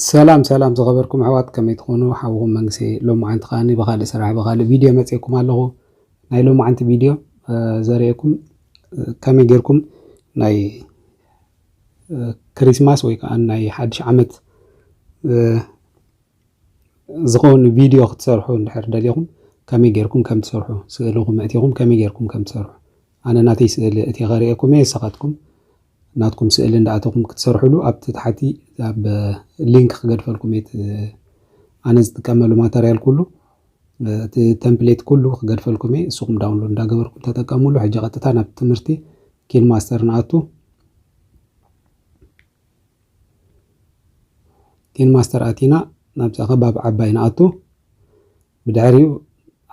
ሰላም ሰላም ዝኸበርኩም ኣሕዋት ከመይ ትኾኑ ሓውኹም መንግስቲ ሎሚ ዓንቲ ከዓኒ ብካልእ ስራሕ ብካልእ ቪድዮ መፅኤኩም ኣለኹ ናይ ሎሚ ዓንቲ ቪድዮ ዘርእየኩም ከመይ ጌርኩም ናይ ክሪስማስ ወይ ከዓ ናይ ሓድሽ ዓመት ዝኸውን ቪድዮ ክትሰርሑ እንድሕር ደሊኹም ከመይ ጌርኩም ከም ትሰርሑ ስእልኹም ኣእቲኹም ከመይ ጌርኩም ከም ትሰርሑ ኣነ ናተይ ስእሊ ኣእትየ ከርእየኩም እየ ንስኻትኩም ናትኩም ስእሊ እንዳኣተኹም ክትሰርሕሉ ኣብቲ ታሕቲ ኣብ ሊንክ ክገድፈልኩም እየ እቲ ኣነ ዝጥቀመሉ ማተርያል ኩሉ እቲ ተምፕሌት ኩሉ ክገድፈልኩም እየ ንስኹም ዳውንሎድ እንዳገበርኩም ተጠቀምሉ ሕጂ ቀጥታ ናብ ትምህርቲ ኪን ማስተር ንኣቱ ቲን ማስተር ኣቲና ናብታ ከባቢ ዓባይ ንኣቱ ብድሕሪኡ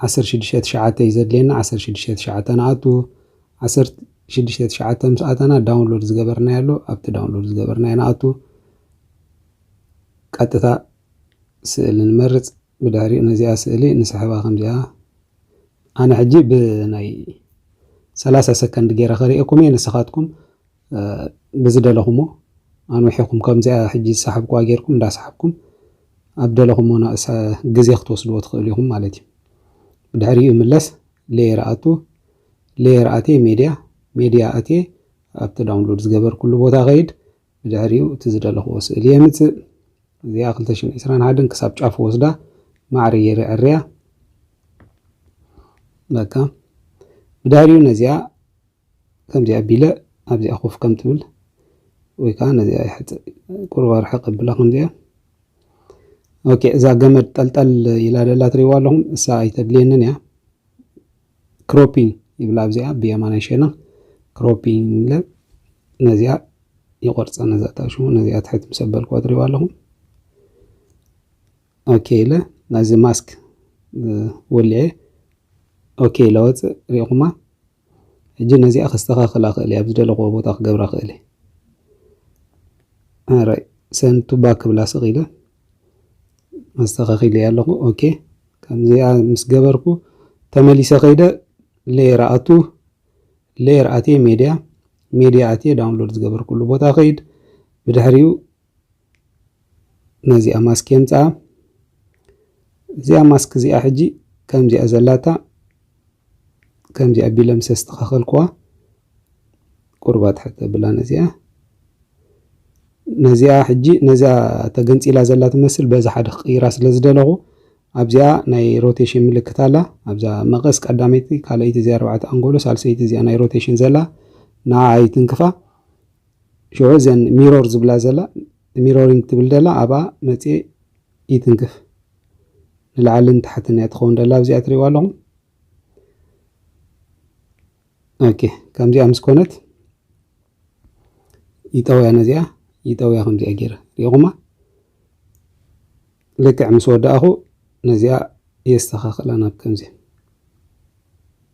ዓሰርተ ሽዱሽተ ትሽዓተ እዩ ዘድልየና ዓሰርተ ሽዱሽተ ትሽዓተ ንኣቱ ዓሰርተ ሽዱሽተ ትሽዓተ ምስ ኣተና ዳውንሎድ ዝገበርናዮ ኣሎ ኣብቲ ዳውንሎድ ዝገበርናዮ ንኣቱ ቀጥታ ስእሊ ንመርፅ ብድሕሪኡ ነዚኣ ስእሊ ንስሕባ ከምዚኣ ኣነ ሕጂ ብናይ ሰላሳ ሰከንድ ገይረ ከሪኤኩም እየ ንስኻትኩም ብዝደለኹሞ ኣንዊሕኩም ከምዚኣ ሕጂ ዝሰሓብኩዋ ጌርኩም እንዳሰሓብኩም ኣብ ደለኹሞ ናእሳ ግዜ ክትወስድዎ ትኽእሉ ኢኹም ማለት እዩ። ብድሕሪኡ ይምለስ ሌየር ኣቱ ሌየር ኣትየ ሜድያ ሜድያ ኣትየ ኣብቲ ዳውንሎድ ዝገበርኩሉ ቦታ ከይድ ብድሕሪኡ እቲ ዝደለኹዎ ስእሊ የምጽእ እዚኣ 221 ክሳብ ጫፍ ወስዳ ማዕረ ጌረ ዕርያ በቃ ብድሕሪኡ ነዚኣ ከምዚ ኣቢለ ኣብዚኣ ኮፍ ከም ትብል ወይ ከዓ ነዚኣ ይሕፅ ቁሩብ ኣርሕቕ ኣብላ ከምዚኣ ኦኬ እዛ ገመድ ጠልጠል ኢላ ደላ ትሪእዋ ኣለኹም እሳ ኣይተድልየንን እያ ክሮፒንግ ይብላ ኣብዚኣ ብየማናይ ሸና ክሮፒንግ ኢለ ነዚኣ ይቆርፃ ነዛ ታሽሙ ነዚኣ ትሕት ምስ ኣበልክዋ ትሪእዋ ኣለኹም ኦኬ ኢለ ናዚ ማስክ ወሊዐ ኦኬ ኢለ ወፅእ ሪኢኹማ ሕጂ ነዚኣ ከስተኻኽላ እኽእል እየ፣ ኣብ ዝደለኽዎ ቦታ ክገብራ እኽእል እየ። ኣራይ ሰንድ ቱ ባክ ክብላ ስቕ ኢለ፣ ኣስተኻኺለያ ኣለኹ። ኦኬ ከምዚኣ ምስ ገበርኩ ተመሊሰ ከይደ ሌየር ኣቱ ሌየር ኣትየ ሜድያ ሜድያ ኣትየ ዳውንሎድ ዝገበርኩሉ ቦታ ከይድ ብድሕሪኡ ነዚኣ ማስክ የምጽኣ እዚኣ ማስክ እዚኣ ሕጂ ከምዚኣ ዘላታ ከምዚኣ ቢለ ምስ ኣስተኻኸልኩዋ ቁርባ ትሕተ ብላ ነዚኣ ነዚኣ ሕጂ ነዛ ተገንፂላ ዘላ ትመስል በዚ ሓደ ክቅይራ ስለ ዝደለኹ ኣብዚኣ ናይ ሮቴሽን ምልክት ኣላ ኣብዛ መቐስ ቀዳመይቲ ካልኣይቲ እዚ ኣርባዕተ ኣንጎሎ ሳልሰይቲ እዚኣ ናይ ሮቴሽን ዘላ ንዓ ኣይትንክፋ ሽዑ እዘን ሚሮር ዝብላ ዘላ ሚሮሪንግ ትብል ደላ ኣብኣ መጽየ ይትንክፍ ንላዕልን ታሕትን እያ ትኸውን ደላ ኣብዚኣ ትሪእዋ ኣለኹም ኦኬ ከምዚኣ ምስ ኮነት ይጠውያ ነዚኣ ይጠውያ ከምዚኣ ገይረ ሪኢኹማ ልክዕ ምስ ወዳእኹ ነዚኣ የስተኻኽላ ናብ ከምዚ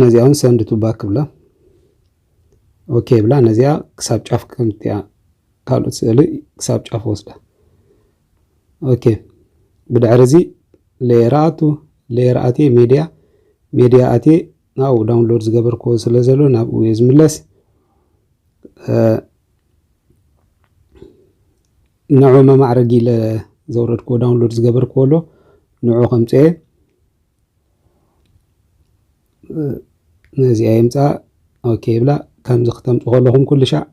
ነዚኣ ውን ሰንድ ቱ ባክ ብላ ኦኬ ብላ ነዚኣ ክሳብ ጫፍ ከምትያ ካልኦት ስእሊ ክሳብ ጫፍ ወስዳ ኦኬ ብድሕሪ እዚ ሌየር ኣቱ ሌየር ኣትየ ሜድያ ሜድያ ኣትየ ናብኡ ዳውንሎድ ዝገበርክዎ ስለ ዘሎ ናብኡ እየ ዝምለስ ንዑ መማዕረጊ ኢለ ዘውረድክዎ ዳውንሎድ ዝገበርክዎ ኣሎ ንዑ ከምፅየ ነዚኣ የምጽኣ ኦኬ ይብላ ከምዚ ክተምጽ ከለኹም ኩሉ ሻዕ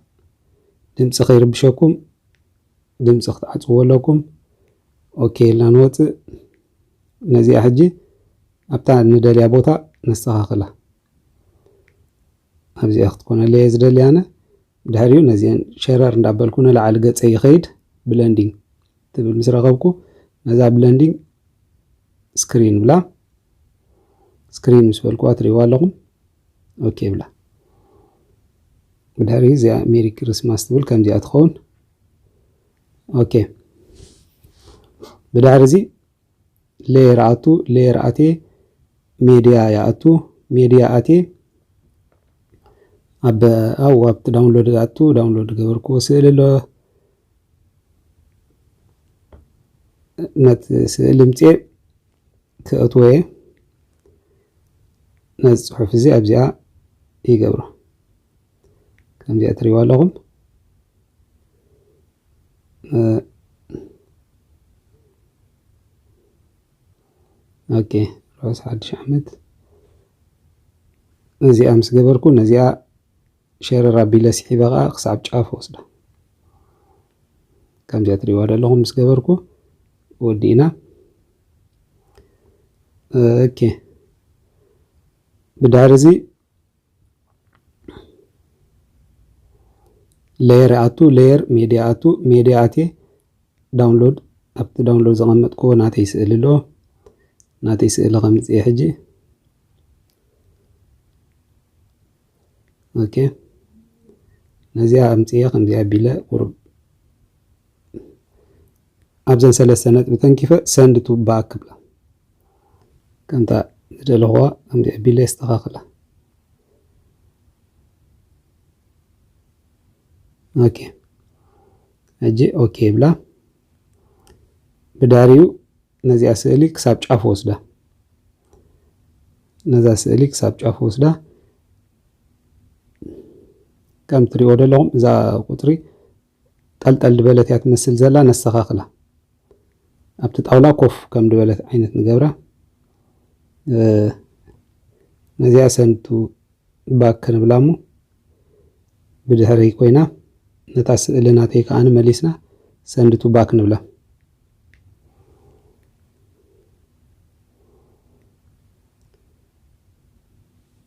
ድምፂ ከይርብሸኩም ድምፂ ክትዓፅዎ ኣለኩም ኦኬ ኢልና ንወፅእ ነዚኣ ሕጂ ኣብታ ንደልያ ቦታ ነስተኻኽላ ኣብዚኣ ክትኮነለየ ዝደሊ ኣነ ድሕሪኡ ነዚኤን ሸረር እንዳበልኩ ንላዕሊ ገጸይ ይኸይድ ብለንዲንግ ትብል ምስ ረኸብኩ ነዛ ብለንዲንግ ስክሪን ብላ ስክሪን ምስ በልኩዋ ትሪእዋ ኣለኹም ኦኬ ብላ ብድሕሪ እዚኣ ሜሪ ክርስማስ ትብል ከምዚኣ ትኸውን ኦኬ ብድሕሪ እዚ ለየር ኣቱ ለየር ኣትየ ሜድያ ይኣቱ ሜድያ ኣትየ ኣብ ኣብ ኣብቲ ዳውንሎድ ኣቱ ዳውንሎድ ገበርክዎ ስእሊ ኣሎ ነቲ ስእሊ ምፅየ ክእትዎ እየ ነዚ ፅሑፍ እዚ ኣብዚኣ ይገብሮ ከምዚኣ ትሪእዋ ኣለኹም ኦኬ ሮስ ሓድሽ ዓመት እዚኣ ምስ ገበርኩ ነዚኣ ሸረር ኣቢለ ስሒበ ከዓ ክሳብ ጫፍ ወስዳ ከምዚኣ ትሪእዋ ዘለኹም ምስ ገበርኩ ወዲእና ኦኬ ብድሕሪ እዚ ለየር ኣቱ ለየር ሜድያ ኣቱ ሜድያ ኣትየ ዳውንሎድ ኣብቲ ዳውንሎድ ዘቐመጥክዎ ናተይ ስእሊ ኣሎ ናተይ ስእሊ ከምፅየ ሕጂ ኦኬ ነዚኣ ኣምፅየ ከምዚኣ ኣቢለ ቁሩብ ኣብዘን ሰለስተ ነጥቢ ተንኪፈ ሰንድ ቱ ባክ ክብላ ከምታ ዝደለኹዋ ከምዚ ኣቢለ የስተኻኽላ ኦኬ ሕጂ ኦኬ ይብላ ብዳሪኡ ነዚኣ ስእሊ ክሳብ ጫፍ ወስዳ ነዛ ስእሊ ክሳብ ጫፍ ወስዳ ከም ትሪኦ ዘለኹም እዛ ቁፅሪ ጠልጠል ድበለት እያ ትመስል ዘላ ነስተኻኽላ ኣብቲ ጣውላ ኮፍ ከም ድበለት ዓይነት ንገብራ ነዚኣ ሰንቱ ባክ ክንብላ እሞ ብድሕረይ ኮይና ነታ ስእሊ ናተይ ከዓ መሊስና ሰንድቱ ባክ ንብላ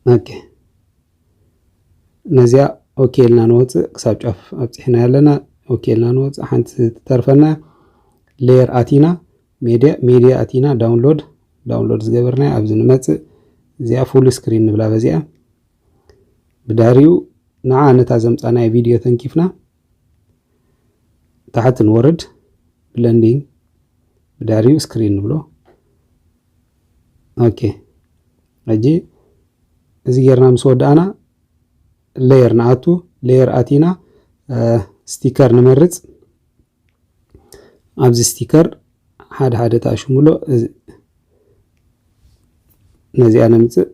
ኦኬ ነዚኣ ኦኬ ኢልና ንወፅእ ክሳብ ጫፍ ኣብፂሕናያ ኣለና ኦኬ ኢልና ንወፅእ ሓንቲ ትተርፈና ሌየር ኣቲና ሜድያ ሜድያ ኣቲና ዳውንሎድ ዳውንሎድ ዝገበርናያ ኣብዚ ንመፅእ እዚኣ ፉል ስክሪን ንብላ በዚኣ ብዳሪኡ ንዓ ነታ ዘምፃናያ ቪድዮ ተንኪፍና ታሕቲ ንወርድ ብለንዲንግ ብዳሪኡ ስክሪን ንብሎ ኦኬ ሕጂ እዚ ጌርና ምስ ወዳእና ሌየር ንኣቱ ሌየር ኣቲና ስቲከር ንመርጽ ኣብዚ ስቲከር ሓደ ሓደ ተኣሽሙሎ ነዚኣ ነምጽእ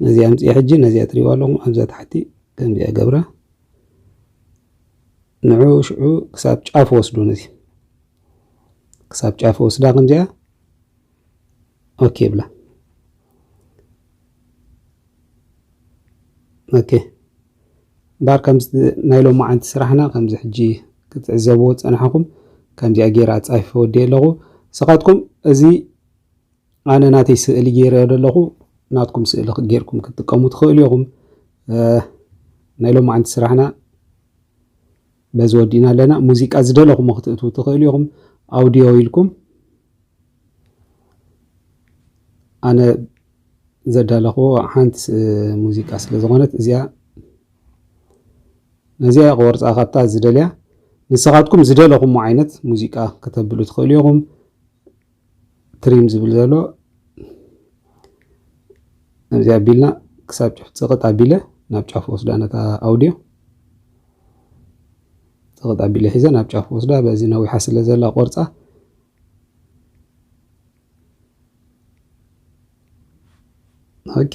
ነዚኣ ምጽእ ሕጂ ነዚኣ ትሪእዋ ኣለኹም ኣብዛ ታሕቲ ከምዚኣ ገብራ ንዑ ሽዑ ክሳብ ጫፍ ወስዱ ነዚ ክሳብ ጫፍ ወስዳ ከምዚኣ ኦኬ ብላ ኦኬ እምበኣር ከምዚ ናይ ሎማዓንቲ ስራሕና ከምዚ ሕጂ ክትዕዘብዎ ዝጸናሕኹም ከምዚኣ ገይረ ኣጻፊፈ ወዲኤ ኣለኹ ንስኻትኩም እዚ ኣነ ናተይ ስእሊ ገይረዮ ዘለኹ ናትኩም ስእሊ ጌርኩም ክትጥቀሙ ትኽእሉ ኢኹም ናይ ሎማዓንቲ ስራሕና በዚ ወዲእና ኣለና ሙዚቃ ዝደለኹሞ ክትእትዉ ትኽእሉ ኢኹም ኣውድዮ ኢልኩም ኣነ ዘዳለኽዎ ሓንቲ ሙዚቃ ስለ ዝኾነት እዚኣ ነዚኣ ክወርፃ ካብታ ዝደልያ ንስኻትኩም ዝደለኹሞ ዓይነት ሙዚቃ ከተብሉ ትኽእሉ ኢኹም ትሪም ዝብል ዘሎ እዚ ኣቢልና ክሳብ ጫፍ ፅቕጥ ኣቢለ ናብ ጫፍ ወስዳ ነታ ኣውድዮ ፅቕጥ ኣቢለ ሒዘ ናብ ጫፍ ወስዳ በዚ ነዊሓ ስለ ዘላ ቆርፃ ኦኬ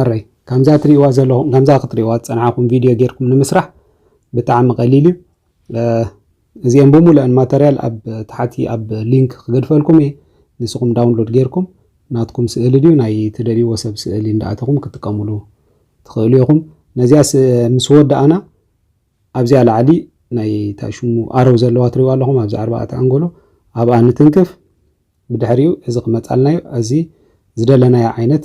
ኣረይ ከምዛ ትሪእዋ ዘለኹም ከምዛ ክትሪእዋ ዝፀናዕኹም ቪድዮ ጌርኩም ንምስራሕ ብጣዕሚ ቀሊል እዩ እዚኤን ብሙሉኤን ማተርያል ኣብ ታሓቲ ኣብ ሊንክ ክገድፈልኩም እየ ንስኩም ዳውንሎድ ገይርኩም ናትኩም ስእሊ ድዩ ናይ ትደልይዎ ሰብ ስእሊ እንዳኣተኩም ክትጥቀምሉ ትክእሉ ኢኩም ነዚኣ ምስ ወዳኣና ኣብዚኣ ላዕሊ ናይ ታይ ሽሙ ኣረው ዘለዋ ትሪእዋ ኣለኩም ኣብዚ ኣርባኣተ ኣንጎሎ ኣብኣ ንትንክፍ ብድሕሪኡ እዚ ክመፃልና እዩ እዚ ዝደለናዮ ዓይነት